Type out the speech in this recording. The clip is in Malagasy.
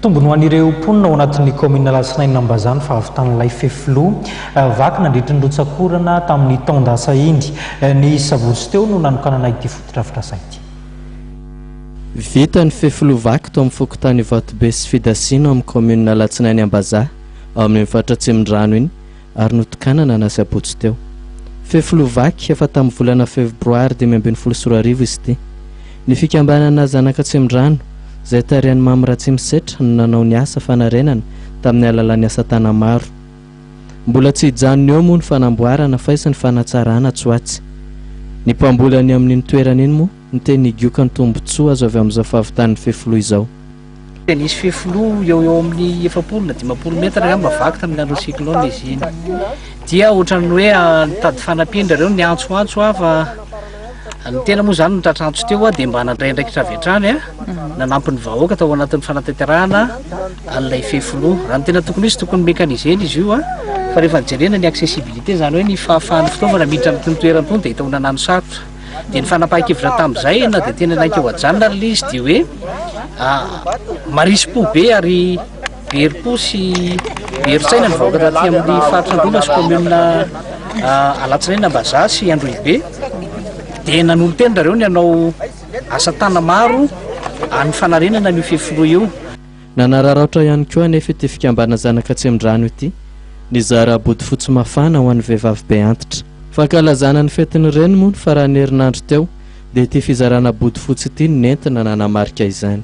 Tombony ho an'ireo mponina ao anatin'ny kaominina Alatsinainina Ambazaha ny fahavitan'ilay fefiloha vaky nandritry ny rotsak'orana tamin'ny taon-dasa iny. Ny sabotsy teo no nanokanana ity fotodrafitrasa ity. Vita ny fefiloha vaky tao amin'ny fokontany Ivatobe sy Fidasina ao amin'ny kaominina Alatsinainy Ambazaha ao amin'ny faritra Atsimondrano iny ary notokanana ny asabotsy teo. Fefiloha vaky efa tamin'ny volana febroary dimy ambin'ny folo sy roa arivo izy ity. Ny fikambanana Zanaka Tsemindrano, izay tarihan'i Mamy Ratsimisetra no nanao ny asa fanarenana tamin'ny alalan'ny asatanana maro. Mbola tsy hijanona eo moa ny fanamboarana faizy sy ny fanatsarana tsy ho atsy. Ny mpamboly any amin'iny toerana iny moa miteny higiokany tombontsoa azo avy amin'izao fahavitan'ny fefiloha izao. Dia nisy fefiloha eo eo amin'ny efapolo na dimampolo metatra angamba vaky tamin'ny andron'ny cyclone izy iny. Dia ohatran'ny hoe ah, nitady fanampian-dry ireo niantsoantso aho fa ah, ny tena moa izany nitratra antso teo aho dia mba nandray andraikitra avy hatrany ah, nanampy ny vahoaka tao anatin'ny fanatanterahana an'ilay fefiloha. Raha ny tena tokony izy tokony mécanisé izy io ah, fa rehefa jerena ny accessibilité izany hoe ny fahafahan'ny fitaovana miditra amin'itony toerana itony dia hita ho nanano sarotra. dia ny fanapahan-kevitra tamin'izay na dia tena naika ho ajanona ary ilay izy dia hoe marisy-po be ary berim-po sy berin-tsaina ny vahoaka taty amin'ny faritra Androana sy kaominina Alatsinaina Ambazaha sy Androhibe dia nanolo-tena ireo ny hanao asa tana maro amin'ny fanarenana an'io fefiloha io. Nanararaotra ihany koa anefa ity fikambana zanaka Tsemindrano ity nizara bodofotsy mafana ho an'ny vehivavy be antitra. Fankalazana ny fetin'ny reny moa ny faran'ny herinandro teo dia ity fizarana bodofotsy ity no nentina nanamarika izany.